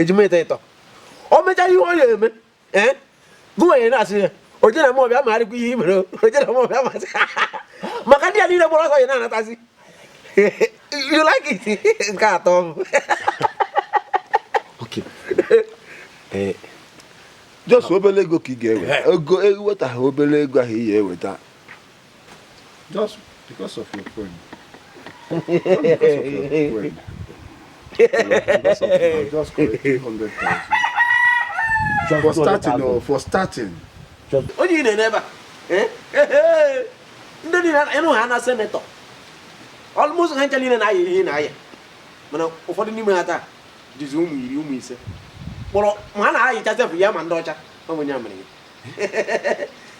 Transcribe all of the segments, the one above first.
ejima ịtọ ịtọ o mechaa ihe ọ ya-eme ee gụwanye na-asị ya oje na mọbịa ma arịkwa ihe i mere oje na mọbịa ma maka ndị a niile gbara ọsọ ya na-anatazi you like it nke atọ m eh. just obere ego ka ị ga-eweta ego ewetaghị obere ego ahụ ị ya-eweta Just because of your friend. Not because of your friend. because of you, just collect 200,000. For starting, oh, for starting. Onye ị na-ene ebe a? Eh? Eh, eh. Ndị niile ị nụ ha na senator. Almost ha ncha niile na-ayị ihe na-ayị. Mana ụfọdụ n'ime ha taa dịzi ụmụ iri ụmụ ise. Kpọrọ ma a na-ayịcha sef ya ma ndị ọcha. Ọ bụ onye amịrị ya.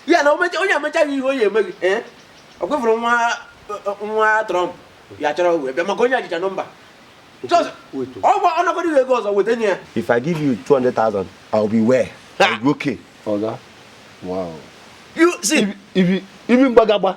ya na onye emechaghị ihe onye emeghị eh? ọ kwefụrụ nwa nwa Trump ya chọrọ wee bịa maka onye jicha number ọgwa ọ nakọrọ ihe ego ọzọ weta nye ya if i give you 200,000 i will be where i will be okay oga wow you see ibi mgbagagba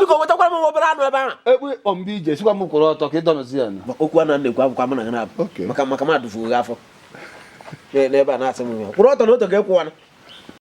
biko wetakwara m obere anụ ebe ahụ ekpe ịkpọ mbe ije sịkwa m kwụrụ ọtọ ka ị dọnụzi ya okwu a na-ekwu akwụkwọ m na ga na-abụ maka maka m adụfuo gị afọ n'ebe a na-asị m kwụrụ ọtọ na otu ga-ekwụwana